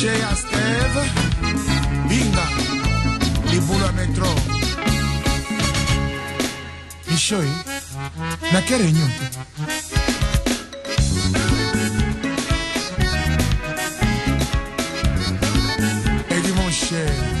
Jea Steve Binga libulu ya metro Michoi na ke reunion te Eddie mon cher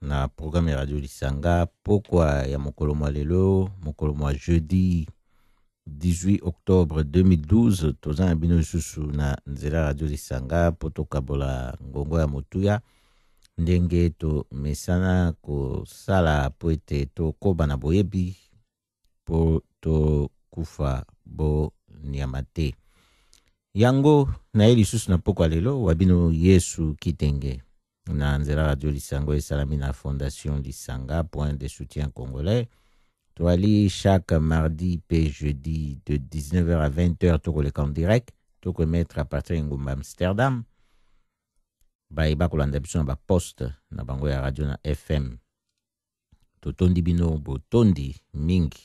na programme ya radio lisanga pokwa ya mokolo mwa lelo mokolo mwa jeudi 18 octobre 2012 toza na bino lisusu na nzela radio lisanga mpo tokabola ngongo ya motuya ndenge tomesana kosala mpo ete tokoba na boyebi mpo tokufa bonyama te. Yango na ye lisusu na mpokwa lelo wa bino Yesu Kitenge na nzela radio lisango esalami na Fondation Lisanga Point de Soutien Congolais toali chaque mardi pe jeudi de 19h à 20h tokoleka en direct tokoemettre à partir ya engumba amsterdam baye bakolanda biso na baposte na bango ya radio na fm totondi bino botondi mingi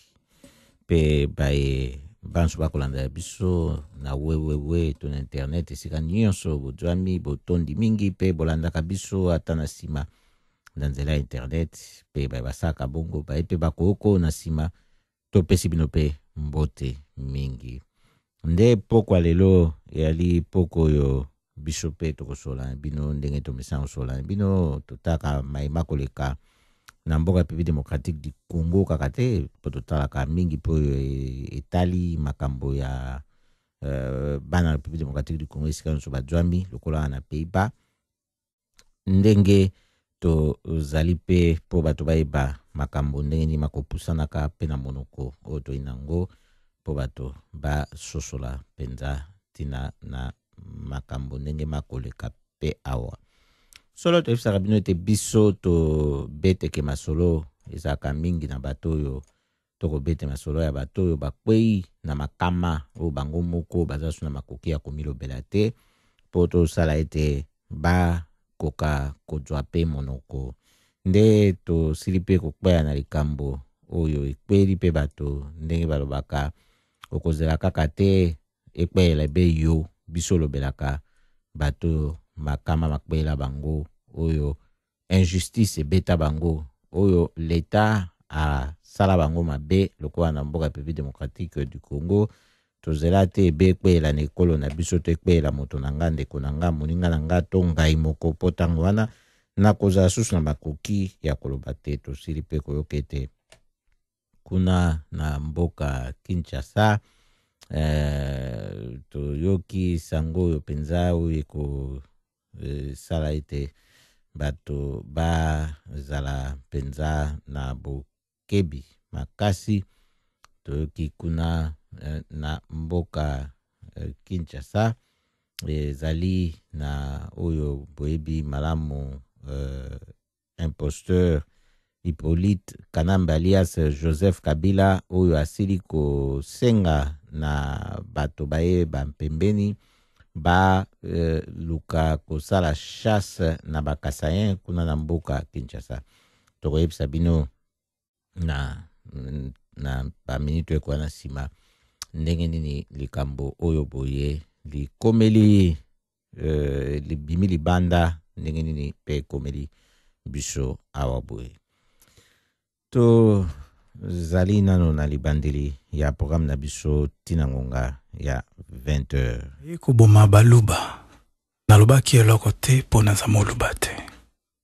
mpe baye banso bakolandela biso na wewewe to na internet esika nyonso bozwami botondi mingi mpe bolandaka biso ata na nsima na nzela ya internet mpe baye basalaka bongo baye mpe bakoko na nsima topesi bino mpe mbote mingi nde pokwa lelo eyali poko oyo biso mpe tokosola bino ndenge tomesana kosola bino totaka mai makoleka na mboka republique démocratique du congo kaka te mpo totalaka mingi mpo oyo e-, etali makambo ya euh, bana republique démocratique du congo esika nyonso bajwami lokola na pays bas ndenge tozali mpe mpo bato bayeba makambo ndenge nini makopusanaka mpe na monoko oyo toyi na yango mpo bato basosola mpenza ntina na makambo ndenge makoleka mpe awa solo toyebisaka bino ete biso tobeteke masolo ezalaka mingi na bato oyo to kobete masolo ya bato oyo bakwei na makama oyo bango moko baza su na makoki ya komilobela te mpo tosala ete bakoka kozwa mpe monoko nde tosili mpe kokwea na likambo oyo ekweli mpe bato ndenge balobaka okozela kaka te ekweela ebe yo biso olobelaka bato makama makwela bango oyo injustice ebeta bango oyo leta asala bango mabe lokola na mboka République démocratique du Congo tozela te ebe ekweela na ekolo na biso to ekweela moto na nga ndeko na nga moninga na nga to ngai moko mpo ntango wana nakozala susu na makoki ya koloba te tosili mpe koyoka ete kuna na mboka Kinshasa eh, toyoki sango oyo mpenza oyo esala ete bato bazala mpenza na bokebi makasi. Toyoki kuna eh, na mboka eh, Kinshasa ezali na oyo boyebi malamu eh, imposteur Hippolyte Kanambe alias Joseph Kabila oyo asili kosenga na bato baye bampembeni baluka euh, kosala chasse na bakasayen kuna na mboka Kinshasa. Tokoyebisa bino na, na baminiti ekoya na nsima ndenge nini likambo oyo boye likomeli euh, libimi libanda ndenge nini mpe ekomeli biso awa boye tozali nano na libandeli ya programe na biso ntina ngonga ya 20 heures ekoboma baluba nalobaki eloko te mpo naza moluba te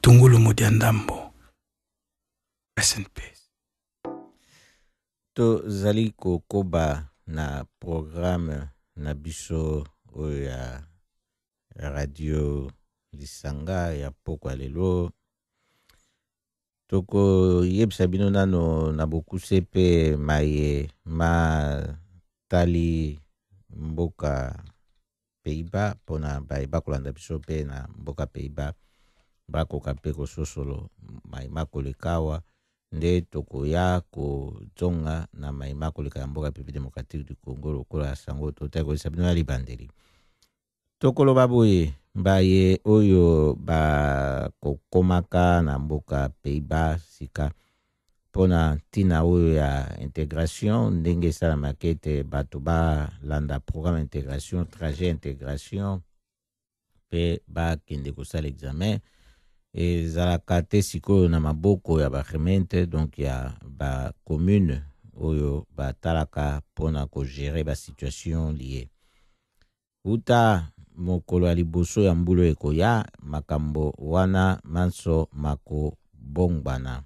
tungulu modia ndambo rest in peace tozali kokoba na programe na biso oyo ya radio lisanga ya pokwa lelo tokoyebisa bino nano na bokuse mpe maye matali mboka Pays-Bas mpo na baye bakolanda biso mpe na mboka Pays-Bas bakoka mpe kososolo mai makoleka awa nde tokoya kozonga na mai makoleka ya mboka Republique Democratique du Congo lokola sango totaki koyesa bino ya libandeli tokoloba boye baye oyo bakokomaka na mboka Pays-Bas sika mpo na ntina oyo ya integration ndenge esalamaka ete bato balanda programme integration trajet integration mpe bakende kosala examen ezalaka te sikoyo na maboko ya baremente donc ya bacommune oyo batalaka mpo na kogere basituation lie Uta mokolo ya liboso ya mbula oyo ekoya, makambo wana manso makobongwana.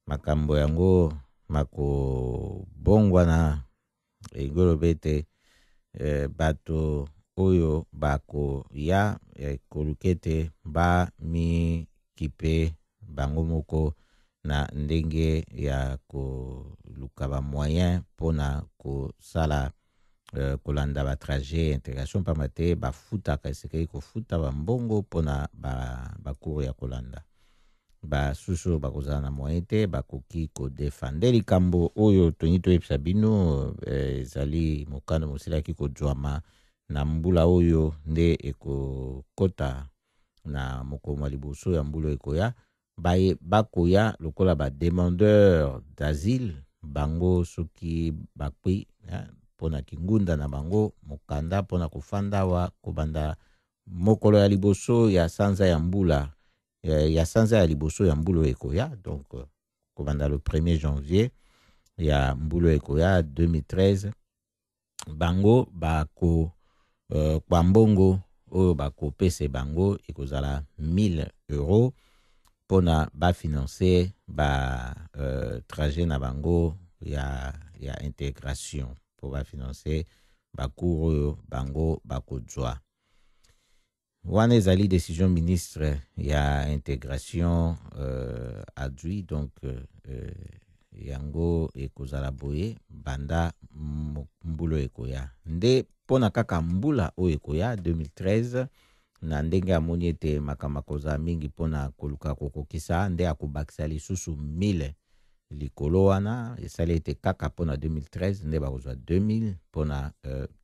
Makambo yango makobongwana elingi oloba ete eh, bato oyo bakoya ekoluka eh, ete bamikipe bango moko na ndenge ya koluka bamoyen mpo na kosala euh, kolanda ba trajet intégration mpamba te bafutaka esekei kofuta bambongo mpona bacours ya kolanda basusu oyo bakozala na moyen te bakoki kodefande likambo oyo tolingi toyebisa bino euh, ezali mokano mosilaki kozwama na mbula oyo nde ekokota na mokolo mwa liboso ya mbula ekoya baye bakoya lokola ba demandeur d'asile bango soki bakwi mpo na kingunda na bango mokanda mpo na kofanda awa kobanda mokolo ya liboso ya sanza ya mbula eh, ya sanza ya liboso ya mbula oyo ekoya donc euh, kobanda le 1er janvier ya mbula oyo ekoya 2013 bango bako uh, kwa mbongo oyo bakopesa bango ekozala 1000 euros mpona bafinanse ba uh, trajet na bango ya, ya integration mpo bafinanse bacour oyo bango bakozwa wana ezali decision ministre ya integration euh, adui donc euh, euh, yango ekozala boye banda mbula ekoya nde mpo na kaka mbula oyo ekoya 2013 na ndenge amoni ete makambo akozala mingi mpo na koluka kokokisa nde akobakisa lisusu 1000 likolo wana esali ete kaka mpo na 2013 nde bakozwa 2000 mpo na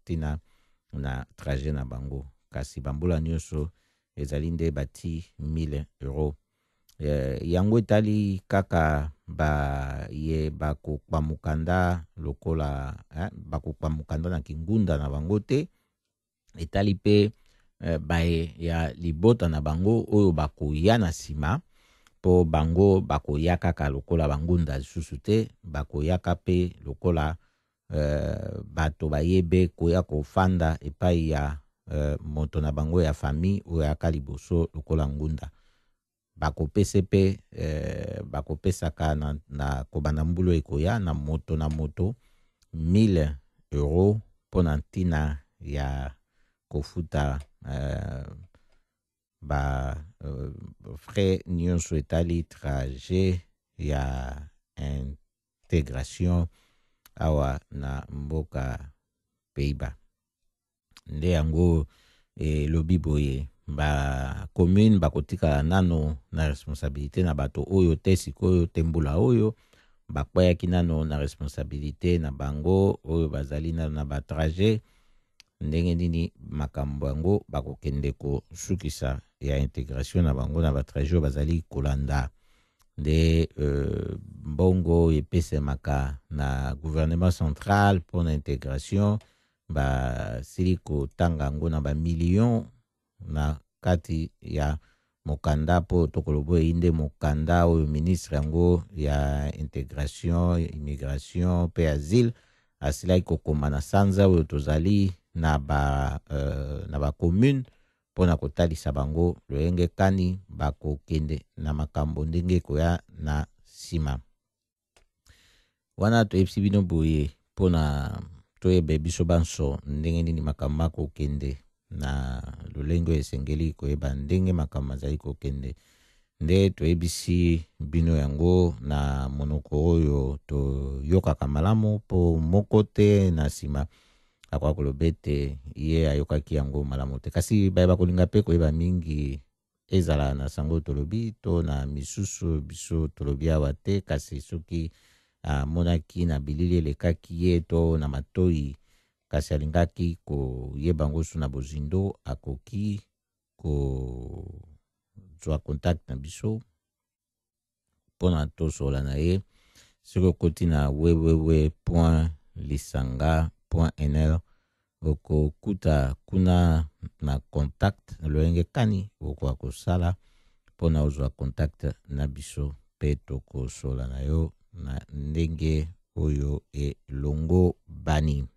ntina euh, na trajet na bango kasi bambula nyonso ezali nde bati 1000 euro eh, yango etali kaka baye bakokba mokanda lokola eh, bakokba mokanda na kingunda na bango te etali mpe eh, baye ya libota na bango oyo bakoya na nsima mpo bango bakoya kaka lokola bangunda lisusu te bakoyaka mpe lokola uh, bato baye be koya kofanda epai ya uh, moto na bango ya famille oyo ayaka liboso lokola ngunda bakopese mpe uh, bakopesaka na, na kobanda mbulu ekoya na moto na moto 1000 euro mpo na ntina ya kofuta uh, ba uh, frais nyonso etali trajet ya integration awa na mboka Pays-Bas. Nde yango elobi boye ba commune bakotikala nano na responsabilite na bato oyo te sikoyo te mbula oyo bakweyaki nano na responsabilite na bango oyo bazali nano na batrajet ndenge nini makambo yango bakokende kosukisa ya integration na bango na batrajet oyo bazali kolanda nde euh, mbongo epesemaka na gouvernement central mpo na integration basili kotanga yango na bamillion na kati ya mokanda mpo tokolobo eyi nde mokanda oyo ministre yango ya integration immigration mpe asile asilaki kokoma na sanza oyo tozali na ba euh, na ba commune mpo na kotalisa bango loyenge kani bakokende na makambo ndenge ekoya na nsima wana toyebisi bino boye mpo na toyebe biso banso ndenge nini makambo makokende na lolenge oyo esengeli koyeba ndenge makambo mazali kokende nde toyebisi bino yango na monoko oyo toyokaka malamu mpo moko te na nsima akoka koloba ete ye ayokaki yango malamu te kasi baye bakolinga mpe koyeba mingi ezala na sango tolobi to na misusu biso tolobi awa te kasi soki amonaki na bilili elekaki ye to na matoi kasi alingaki koyeba yango su na bozindo akoki kozwa contact na biso mpo na tosola na ye soki okoti na wewewe point lisanga point nl okokuta kuna na contact lolenge kani okoka kosala mpo na ozwa contact na biso mpe tokosola na yo na ndenge oyo elongo bani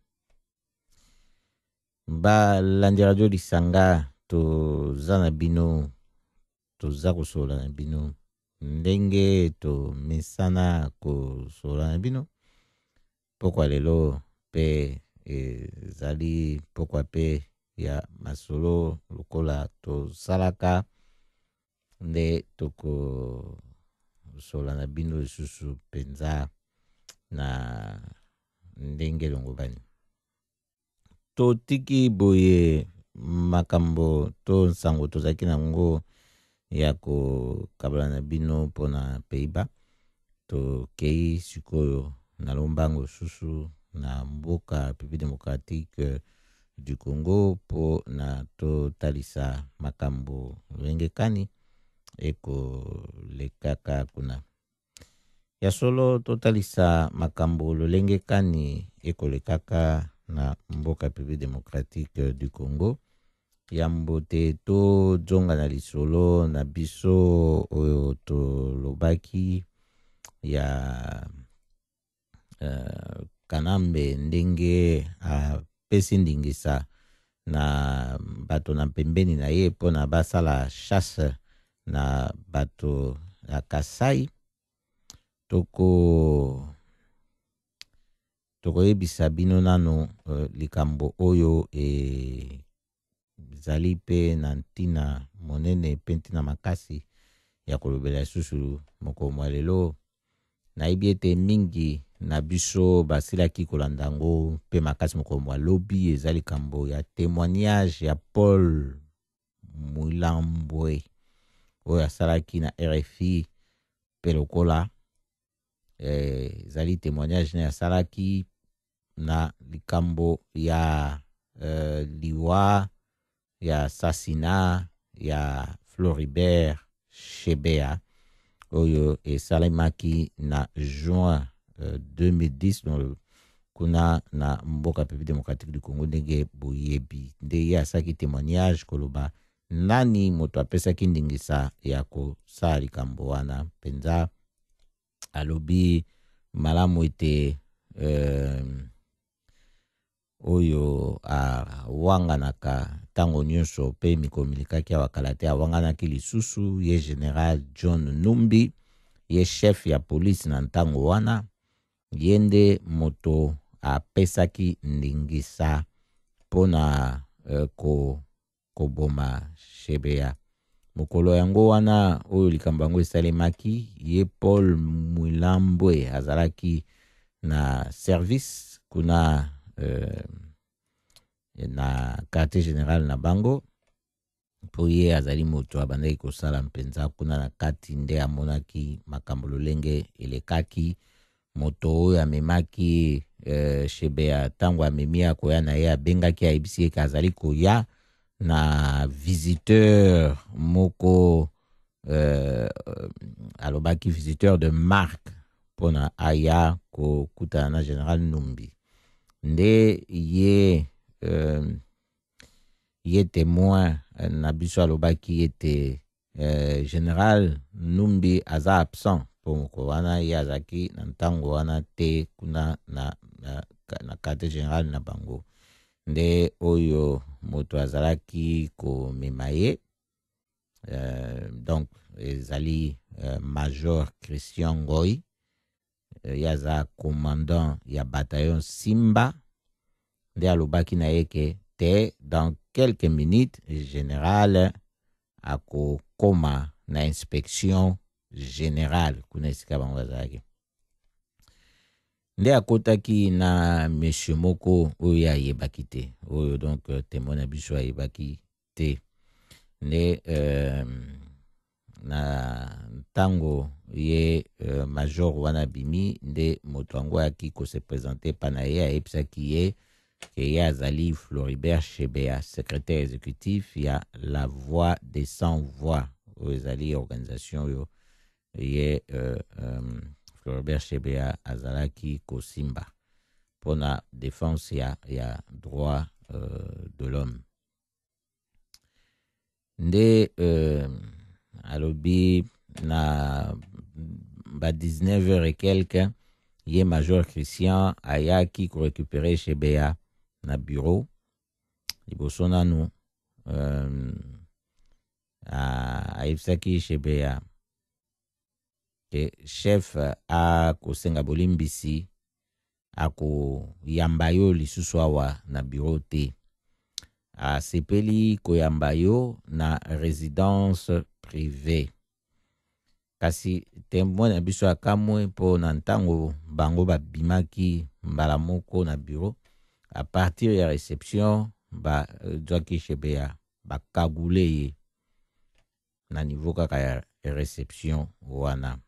balandi radio lisanga toza na bino Toza kosolola na bino ndenge tomesana kosolola na bino mpokwa lelo mpe ezali mpokwa mpe ya masolo lokola tosalaka nde tokosola na bino lisusu mpenza na ndenge elongobani totiki boye makambo to nsango tozalaki na yango ya kokabola na bino mpo na peiba tokei sikoyo na lombango susu na mboka république démocratique du congo mpo na totalisa makambo lolenge kani ekolekaka kuna Ya solo totalisa makambo lolenge kani ekolekaka na mboka République démocratique du Congo. Yambo te tojonga na lisolo na biso oyo tolobaki ya uh, kanambe ndenge apesi uh, ndingisa na bato na mpembeni na ye mpo na basala chasse na bato ya kasai toko tokoyebisa bino nano uh, likambo oyo e, Ezali mpe na ntina monene mpe ntina makasi ya kolobela lisusu mokolo mwa lelo. Nayebi ete mingi na biso basilaki kolanda yango mpe makasi mokolo mwa lobi. Eza likambo ya temoignage ya Paul Mwilambwe oyo asalaki na RFI mpe lokola eh, ezali eh, temoignage ne asalaki na likambo ya uh, liwa ya sasina ya Floribert Shebea oyo esalemaki na juin uh, 2010 no, kuna na mboka pepi demokratiki du congo ndenge boyebi nde ye asaki témoignage koloba nani moto apesaki ndingisa ya kosala likambo wana mpenza alobi malamu ete euh, oyo awanganaka ntango nyonso mpe mikolo milikaki awa kala te awanganaki lisusu ye general john numbi ye chef ya polisi na ntango wana ye nde moto apesaki ndingisa mpo na euh, ko koboma Shebea. Mokolo yango wana oyo likambo yango esalemaki, ye Paul Mwilambwe azalaki na service kuna euh, na quartier général na bango mpo ye azali moto abandaki kosala mpenza kuna na kati nde amonaki makambo lolenge elekaki moto oyo amemaki eh, shebea ntango amemi akoya na ye abengaki ayebisi ye ke azali koya na visiteur moko eh, alobaki visiteur de marque mpo na aya kokutana na general numbi nde ye eh, ye temoin na biso alobaki ete eh, general numbi aza absent mpo mokolo wana ye azalaki na ntango wana te kuna na, na, na quartier general na bango nde oyo moto azalaki komema ye eh, donc ezali eh, major christian ngoi euh, ye aza commandant ya bataillon Simba nde alobaki na ye ke te dans quelques minutes général akokoma na inspection générale kuna esika bango bazalaki nde akotaki na monsieur moko oyo ye ayebaki te oyo donc euh, temoi na biso ayebaki te nde euh, na ntango ye euh, major wana abimi nde moto yango ayaki kose presente epa na ye ayebisaki ye ke ye azali floribert shebea secrétaire exécutif ya la voix des sans voix oyo ezali organisation oyo ye euh, euh, floribert shebea azalaki kosimba mpo na défense ya, ya droit euh, de l'homme nde euh, alobi na ba 19 heures et quelques ye major christian ayaki korecupere shebeya na bureau liboso nanu euh, ayebisaki shebeya ke chef akosenga bolimbisi akoyamba yo lisusu awa na bureau te asepeli koyamba yo na residence privée kasi temwe na biso akamwe mpo na ntango bango babimaki mbala moko na bureau a partir ya reception bazwaki shebe ya bakagule ye na niveau kaka ya reception wana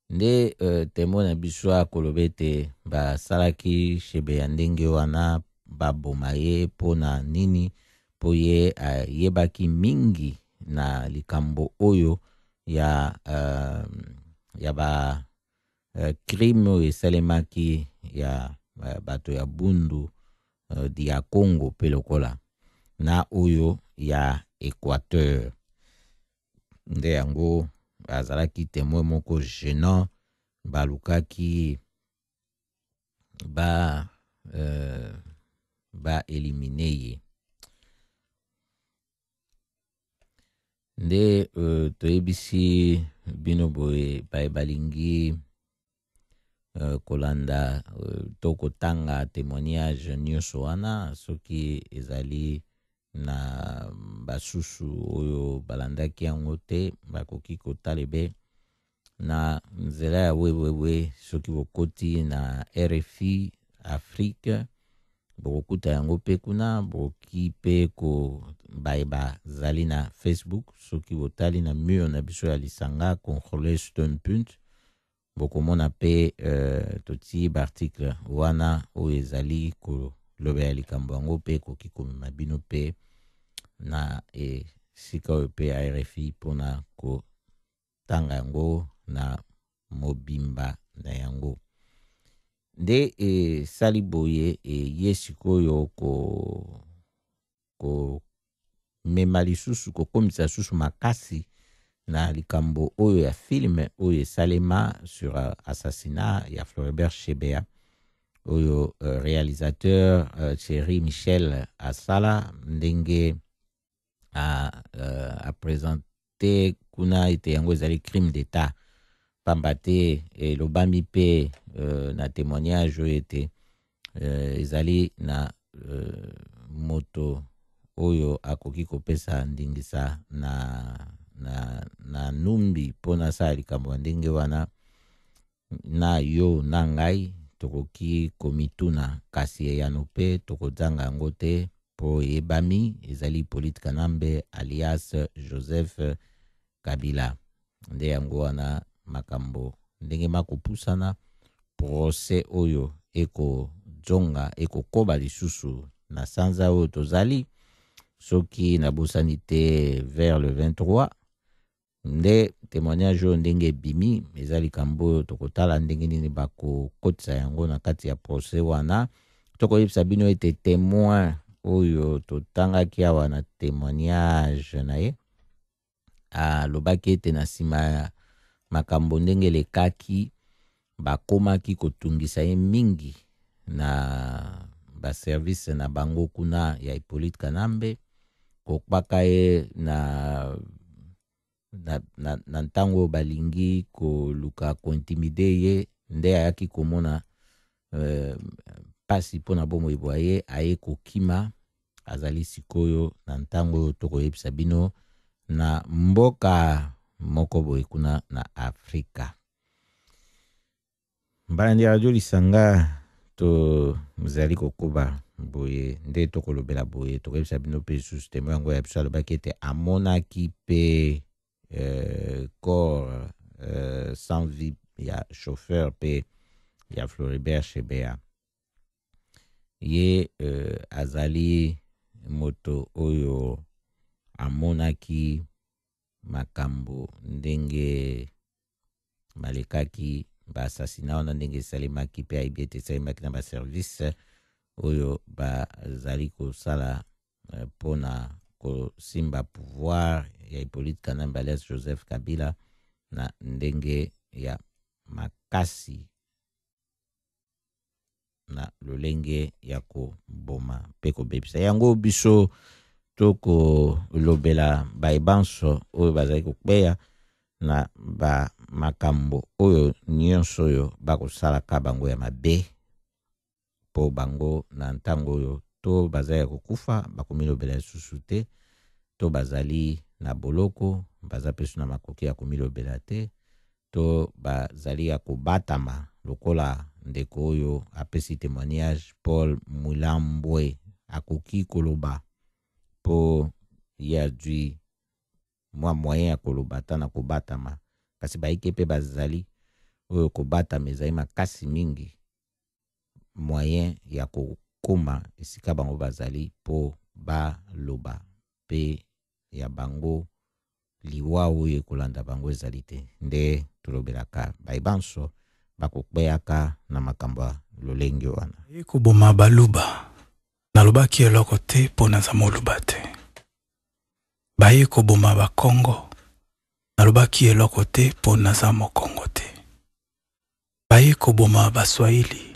nde uh, temo na biso akoloba ete basalaki shebe ya ndenge wana baboma ye mpo na nini mpo ye ayebaki mingi na likambo oyo ya, uh, ya ba uh, crime oyo esalemaki ya uh, bato ya bundu uh, di ya congo mpe lokola na oyo ya équateur nde yango azalaki temwe moko gênant balukaki ba euh, ba elimine ye nde euh, toyebisi bino boye baye balingi euh, kolanda euh, to kotanga témoignage nyonso wana soki ezali na basusu oyo balandaki yango te bakoki kotala ebe na nzela ya wewewe soki bokoti na rfi afrique bokokuta yango mpe kuna bokoki mpe baye bazali na facebook soki botali na mur na biso ya lisanga controle stonpunt bokomona mpe euh, totii baartikle wana oyo ezali kolobela likambo yango mpe ekoki komema bino mpe na esika oyo mpe ya rfi mpo na kotanga yango na mobimba na yango nde esali boye eye sikoyo ko komema lisusu kokomisa lisusu makasi na likambo oyo ya filme oyo esalema sur euh, assassinat ya floribert shebea oyo uh, réalisateur uh, thierry michel asala ndenge a, uh, a, present, te kuna ete yango ezali crime d'etat pamba te elobami eh, mpe euh, na témoignage oyo ete euh, ezali na euh, moto oyo akoki kopesa ndingisa na, na, na numbi mpo nasala likambo ya ndenge wana na yo na ngai tokoki komituna, kasi eyano mpe tokozanga yango te mpo eyebami ezali Hippolyte Kanambe alias Joseph Kabila. Nde yango wana makambo ndenge makopusana procès oyo ekozonga ekokoba lisusu na sanza oyo tozali soki nabosani te vers le 23 nde temoignage oyo ndenge ebimi eza likambo oyo tokotala ndenge nini bakokotisa yango na kati ya procès wana tokoyebisa bino ete temoin oyo totangaki awa na temoignage na ye alobaki ete na nsima ya makambo ndenge elekaki bakomaki kotungisa ye mingi na baservice na bango kuna ya Hippolyte Kanambe kokpaka ye na na, na, na ntango oyo balingi koluka kointimide ye nde ayaki komona euh, mpasi euh, mpo na bomoi bwa ye aye kokima azali sikoyo na ntango oyo tokoyebisa bino na mboka moko boye kuna na afrika mbalandi ya radio lisanga tozali kokoba boye nde tokolobela boye tokoyebisa bino mpe lisusu temo yango ya biso alobaki ete amonaki mpe euh, corps euh, sans vie ya chauffeur mpe ya floribert shebea ye euh, azali moto oyo amonaki makambo ndenge balekaki baasasina wana ndenge esalemaki mpe ayebi ete esalemaki na baservice oyo bazali kosala eh, mpo na kosimba pouvoir ya hippolyte kanambe alias joseph kabila na ndenge ya makasi na lolenge ya koboma mpe kobebisa yango biso tokolobela baye banso oyo bazali kokweya na ba makambo oyo nyonso oyo bakosalaka bango ya mabe mpo bango na ntango oyo to bazali ya kokufa bakomilobela lisusu te to bazali na boloko baza mpe na makoki ya komilobela te to bazali ya kobatama lokola ndeko oyo apesi temoignage Paul Mulambwe akoki koloba po ye azwi mwa moyen ya koloba ata na kobatama kasi baike mpe bazali oyo kobatama ezali makasi mingi moyen ya kokoma esika bango bazali mpo baloba mpe ya bango liwa oyo ekolanda bango ezali te nde tolobelaka baye banso bakokweyaka na makambo ya lolenge wana ye koboma baluba nalobaki eloko te mpo naza moluba te baye koboma bakongo nalobaki eloko te mpo naza mokongo te baye koboma baswahili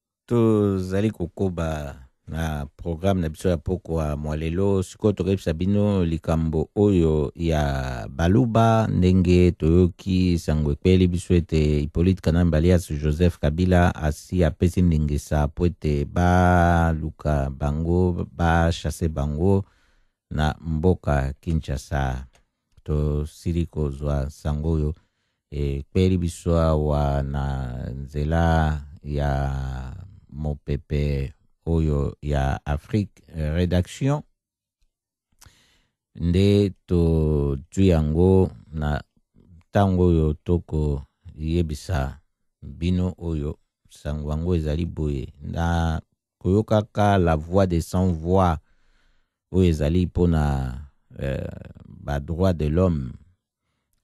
tozali kokoba na programme na biso ya pokwa mwa lelo sikoyo tokoyebisa bino likambo oyo ya baluba ndenge toyoki sango ekweli biso ete hippolyte kanambe alias joseph kabila asi apesi ndingisa mpo ete baluka bango bachase bango na mboka kinshasa tosili kozwa nsango oyo ekpeli biso awa na nzela ya mopepe oyo ya afrique redaction nde tozwi yango na ntango oyo tokoyebisa bino oyo nsango yango ezali boye na koyokaka la voix de sans voix oyo ezali mpo na euh, ba droit de l'homme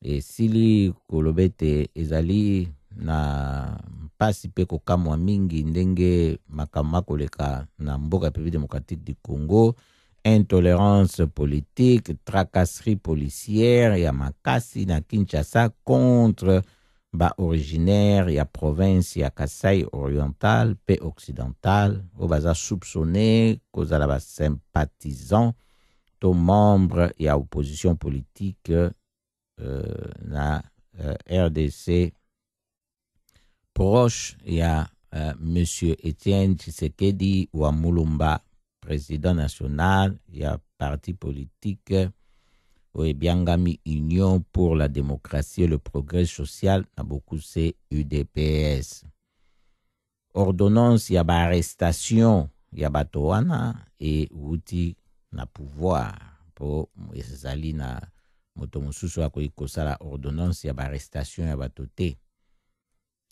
esili koloba ete ezali na mpasi mpe kokamwa mingi ndenge makambo makoleka na mboka République démocratique du Congo intolerance politique tracasserie policière ya makasi na Kinshasa contre ba originaires ya province ya Kasai oriental pe occidental oyo baza soupçonne kozala ba sympathisants to membre ya opposition politique euh, na euh, RDC proche ya euh, monsieur Etienne Tshisekedi wa Mulumba president national ya parti politique oyo ebiangami union pour la démocratie et le progrès social na bokuse udps ordonnance ya baarrestation ya bato wana euti na pouvoir mpo ezali na moto mosusu akoki kosala ordonnance ya baarrestation ya bato te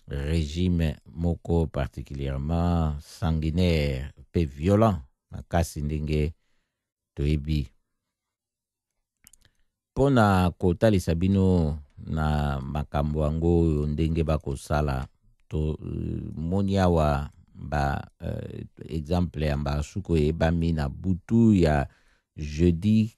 regime moko particulièrement sanguinaire mpe violent makasi ndenge toyebi mpo na kotalisa bino na makambo yango oyo ndenge bakosala tomoni euh, awa ba uh, exemple ya mbasuku eyebami na butu ya jeudi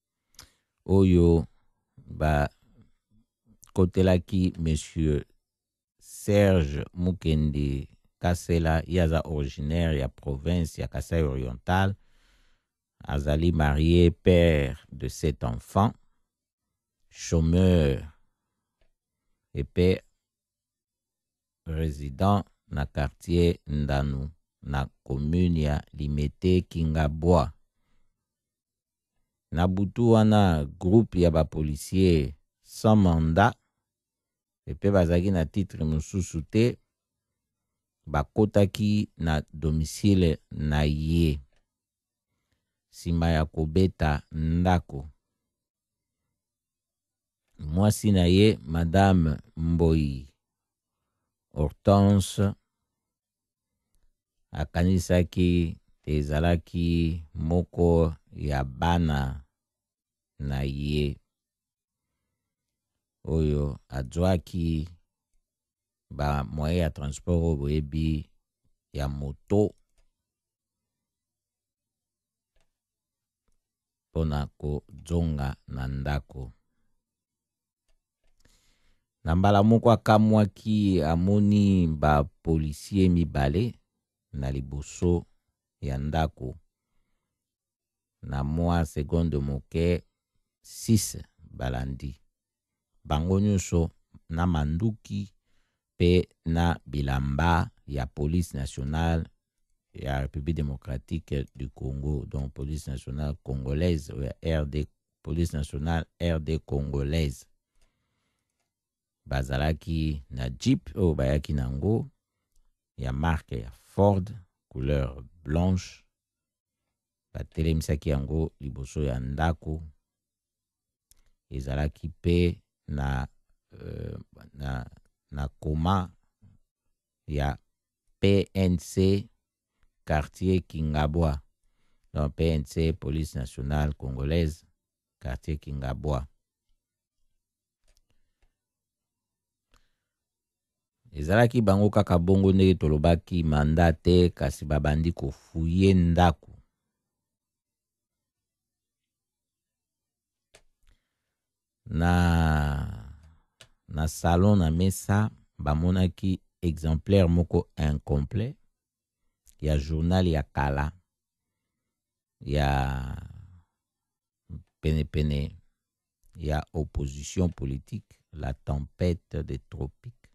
oyo bakotelaki monsieur serge mukendi kasela ye aza originaire ya province ya kasai oriental azali marie père de sept enfants chômeur epe résident na quartier ndanu na commune ya limete kingabwa Na butu wana, groupe ya ba policiers sans mandat epe bazalaki na titre mosusu te bakotaki na domicile na ye nsima ya kobeta ndako. Mwasi na ye, Madame Mboyi Hortense, Akanisaki te ezalaki moko ya bana na ye oyo azwaki ba moyen ya transport oyo boyebi ya moto mpo na kozonga na ndako. Na mbala moko akamwaki, amoni bapolisie mibale na liboso ya ndako. Na mwa segonde moke, six balandi bango nyonso na manduki mpe na bilamba ya Police nationale ya République démocratique du Congo, donc Police nationale congolaise ou RD, Police nationale RD congolaise. Bazalaki na Jeep oyo bayaki nango ya marque ya Ford couleur blanche. Batelemisaki yango liboso ya ndako ezalaki mpe na, euh, na, na koma ya PNC quartier Kingabwa. Donc PNC, Police Nationale Congolaise, quartier Kingabwa. ezalaki bango kaka bongo ndenge tolobaki manda te kasi babandi kofuye ndako na na salon na mesa bamonaki exemplaire moko incomplet ya journal ya kala ya penepene ya opposition politique la tempête des tropiques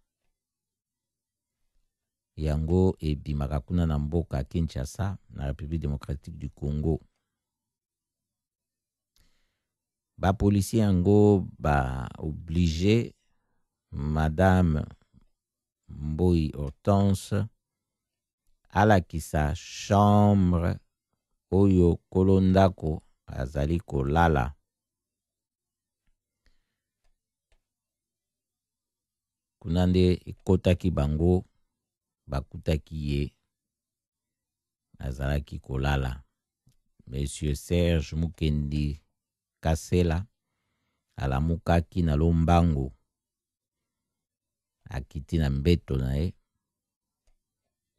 yango ebimaka kuna na mboka Kinshasa na République démocratique du Congo ba policiers yango ba oblige madame Mboyi Hortense alakisa chambre oyo kolo ndako azali kolala Kuna nde ekotaki bango, bakutaki ye azalaki kolala. Monsieur Serge Mukendi Kasela alamukaki na lombango, akiti na mbeto na ye,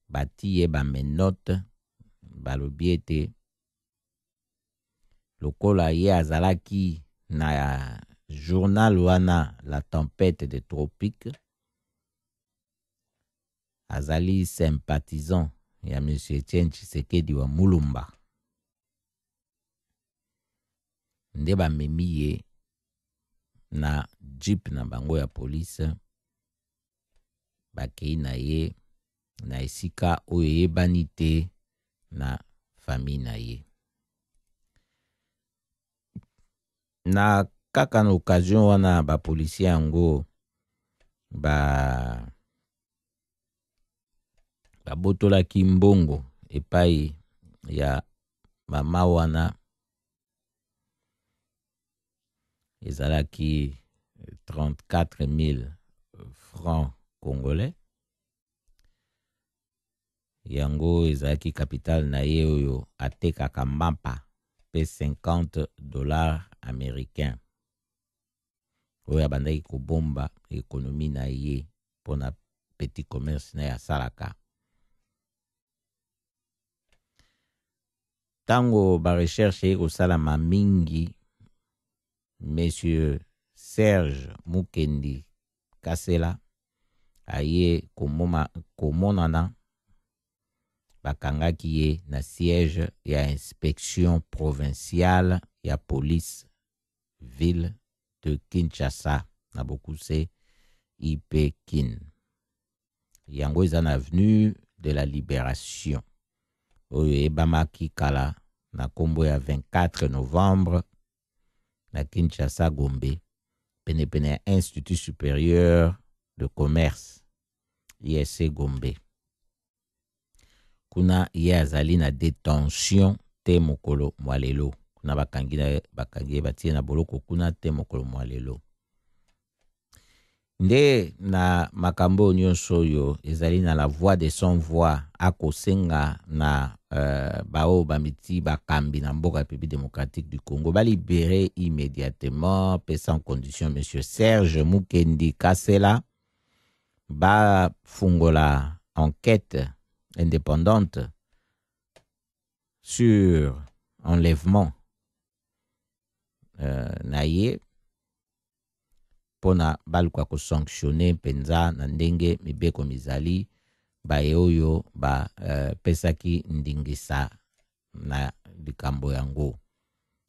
bati ye bamenote, balobi ete lokola ye azalaki na journal wana la tempête de tropique azali sympathisant ya monsieur Etienne Tshisekedi wa Mulumba nde bamemi ye na jeep na bango ya police bakei na ye na esika oyo eyebani te na fami na ye. Na kaka na occasion wana bapolisie yango ba babotolaki mbongo epai ya mama wana ezalaki 34 000 francs congolais yango ezalaki capital na ye oyo atekaka mapa mpe 50 dollars américain oyo abandaki kobomba ekonomi na ye mpo na petit commerce na ye asalaka ntango barecherche eye kosalama mingi monsieur serge mukendi kasela aye komoma, komonana bakangaki ye na siège ya inspection provinciale ya police ville de kinshasa na bokuse ip kin yango eza na avenue de la liberation oyo eyebamaki kala na nkombo ya 24 novembre na kinshasa gombe penepene ya institut supérieur de commerce ic gombe kuna ye azali na detention te mokolo mwa lelo kuna bakangi na bakangi ye batie na boloko kuna te mokolo mwa lelo nde na makambo oyo nyonso oyo ezali na la voix de son voix akosenga na uh, baoyo bamiti bakambi na mboka république démocratique du congo balibere immédiatement pe sans condition monsieur serge mukendi kasela bafungola enquête indépendante sur enlèvement euh, na ye mpo na baluka kosanctionne mpenza na ndenge mibeko mizali baye oyo bapesaki euh, ndingisa na likambo yango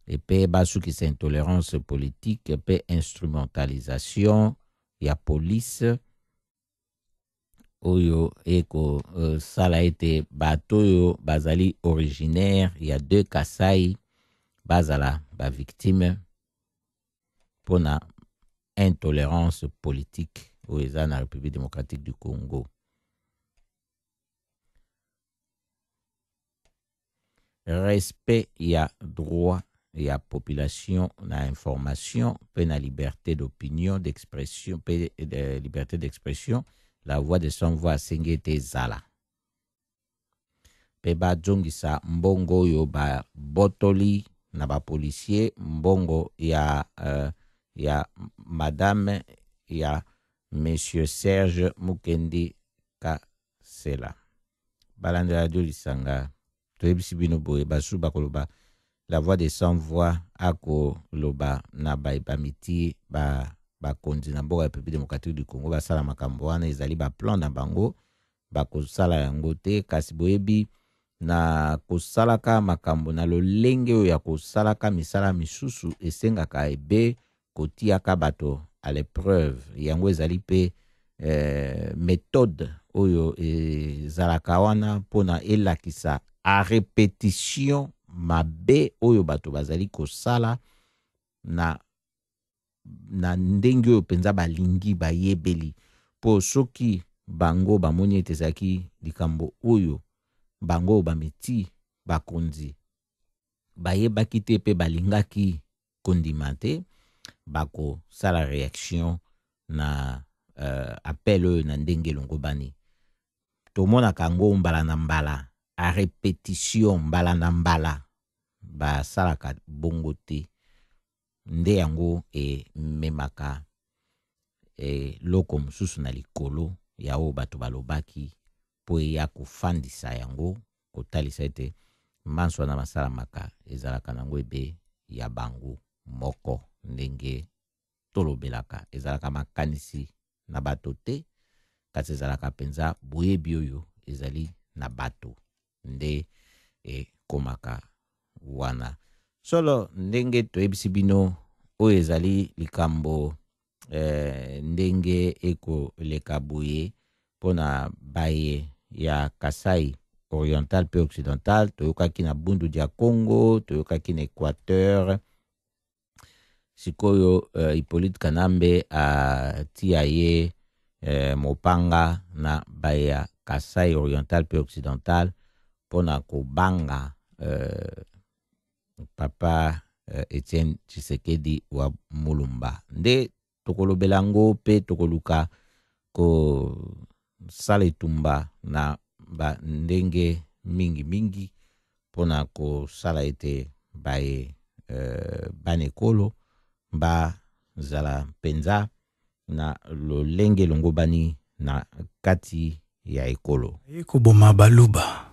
epe basukisa intolerance politique epe instrumentalisation ya police oyo ekosala euh, ete bato oyo bazali originaire ya deux kasai bazala bavictime mpo na intolerance politique oyo eza na république démocratique du congo respect ya droit ya population na information mpe na liberté d'opinion d'expression mpe de liberté d'expression la voix de sans voix asengi ete ezala mpe bazongisa mbongo oyo babotoli na bapolisier mbongo ya, uh, ya madame ya monsieur serge mukendi ka, Sela. Balanda radio lisanga. Toyebisi bino boye basu bakoloba la voix de sans voix akoloba na baye bamiti ba bakonzi na mboka ya République démocratique du Congo basala makambo wana ezali ba plan na bango bakosala yango te kasi boyebi na kosalaka makambo na lolenge oyo ya kosalaka misala misusu esengaka ebe kotiaka bato à l'épreuve yango ezali mpe eh, methode oyo ezalaka wana mpona elakisa a repetition mabe oyo bato bazali kosala na na ndenge oyo mpenza balingi bayebeli mpo soki bango bamoni ete ezalaki likambo oyo bango bamiti bakonzi bayebaki te mpe balingaki kondima te bakosala reaction na uh, appel oyo na ndenge elongobani tomonaka yango mbala na mbala a repetition mbala na mbala basalaka bongo te nde yango ememaka eloko mosusu na likolo ya oyo bato balobaki mpo eya kofandisa yango, kotalisa ete manso wana masalamaka ezalaka na yango ebe ya bango moko. Ndenge tolobelaka, ezalaka makanisi na bato te, kasi ezalaka mpenza boyebi oyo ezali na bato nde ekomaka wana. Solo, ndenge toyebisi bino, oyo ezali likambo eh, ndenge ekoleka boye mpo na baye ya kasai oriental mpe occidental toyokaki na bundu dia congo toyokaki na équateur sikoyo uh, hippolyte kanambe atia uh, ye uh, mopanga na baye ya kasai oriental mpe occidental mpo na kobanga uh, papa uh, Etienne Tshisekedi wa Mulumba nde tokolobela yango mpe tokoluka kosala etumba na bandenge mingi mingi mpo na kosala ete baye euh, bana ekolo bazala mpenza na lolenge elongobani na kati ya ekolo. Aye koboma baluba.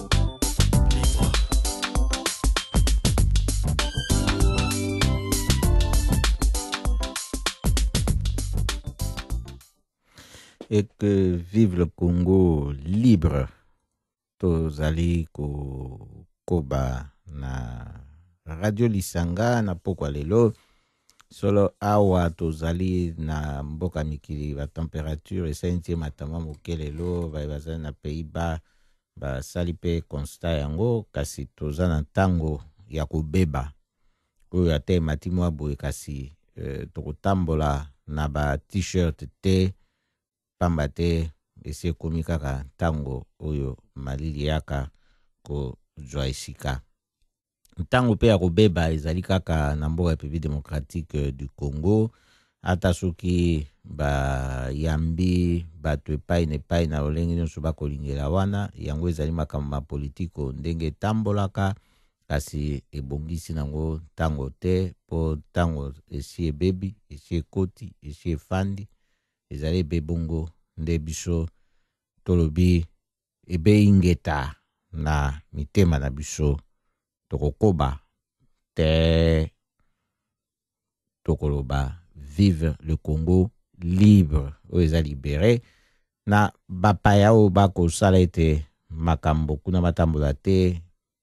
et que vive le Congo libre tozali kokoba na radio lisanga na pokwa lelo solo awa tozali na mboka mikili batemperature esali ntie matama moke lelo baye bazali na pays bas basali mpe konsta yango kasi toza na ntango ya kobeba oyo ata emati mwa boye kasi eh, tokotambola na ba t-shirt te pamba te esi ekomi kaka ntango oyo malili yaka kozwa esika ntango mpe ya kobeba ezali kaka na mboka République démocratique euh, du Congo ata soki bayambi bato epai na epai na lolenge nyonso bakolingela wana yango ezali makambo ma politiko ndenge etambolaka kasi ebongisi nango ntango te mpo ntango esi ebebi esi ekoti esi efandi ezali ebe bongo nde biso tolobi ebeyi ingeta na mitema na biso tokokoba te tokoloba vive le congo libre oyo eza libere na bapaya oyo bakosala ete makambo kuna matambola te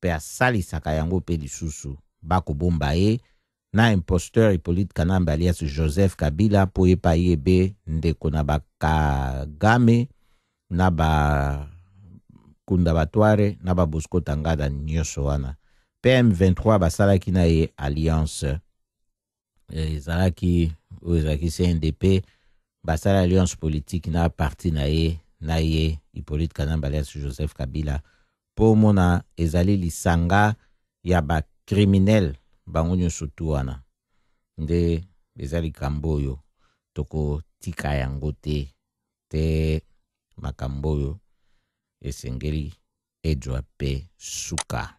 pe asalisaka yango pe lisusu ba kobomba ye na imposteur Hyppolite Kanambe alias Joseph Kabila po ye pe ayebe ndeko na ba Kagame na ba Kunda Batware na ba Bosco Tangada nioso wana pe M23 basalaki na ye alliance eh, ezalaki oyo ezalaki cndp basala alliance politique na parti na ye na ye hippolyte kanamba alias joseph kabila mpo omona ezali lisanga ya bacriminel bango nyonso tu wana nde eza likambo oyo tokotika yango te te makambo oyo esengeli ejwa mpe suka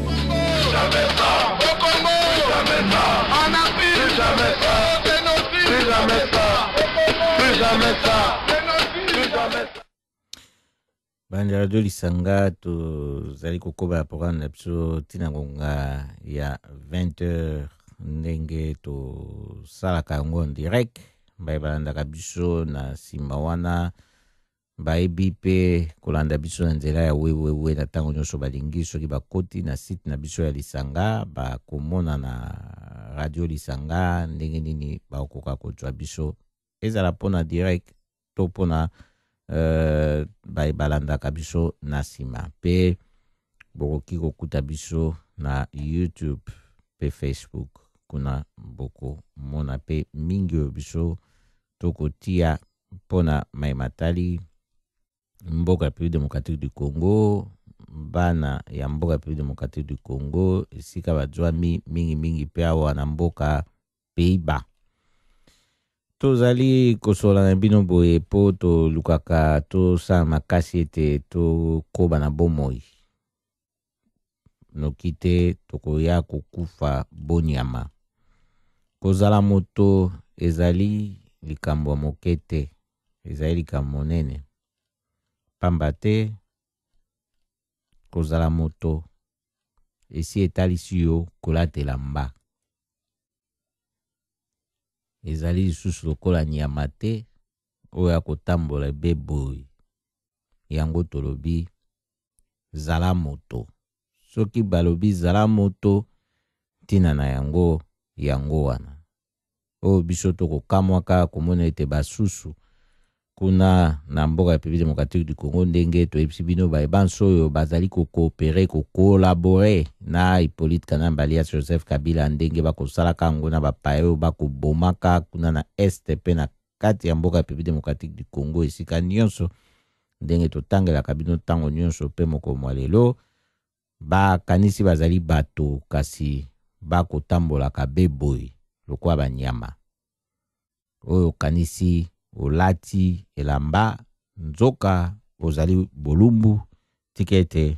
bandi radio lisanga tozali kokoba ya programme na biso ntina ngonga ya 20 heures ndenge tosalaka yango en direct baye balandaka biso na nsima wana bayebi mpe kolanda biso na nzela ya wewewe na ntango nyonso balingi soki bakoti na site na biso ya lisanga bakomona na radio lisanga ndenge nini bakokoka kozwa biso ezala mpo na direct to mpo na uh, baye balandaka biso na nsima mpe bokoki kokuta biso na youtube mpe facebook kuna bokomona mpe mingi oyo biso tokotia mpo na mai matali mboka République démocratique du Congo bana ya mboka République démocratique du Congo esika bazwami mingimingi mpe awa na mboka Pays-Bas. Tozali kosola na bino boye mpo tolukaka tosala makasi ete tokoba na bomoi. noki te tokoya kokufa bonyama. Kozala moto ezali likambo ya moke te, ezali likambo monene, mpamba te kozala moto esi etalisi yo kolatela mba. Ezali lisusu lokola nyama te oyo akotambola ebeboyi. Yango tolobi zala moto. Soki balobi zala moto, ntina na yango yango wana. Oyo biso tokokamwaka komona ete basusu kuna na mboka ya République démocratique du Congo ndenge toyebisi bino baye banso oyo bazali kokoopere kokolabore na Hippolyte Kanambe alias Joseph Kabila ndenge bakosalaka yango na bapaya oyo bakobomaka kuna na est mpe na kati ya mboka Republique Democratique du Congo esika nyonso ndenge totangelaka bino ntango nyonso mpe mokolo mwa lelo bakanisi bazali bato kasi bakotambolaka beboye lokola banyama oyo okanisi olati elamba nzoka ozali bolumbu tika ete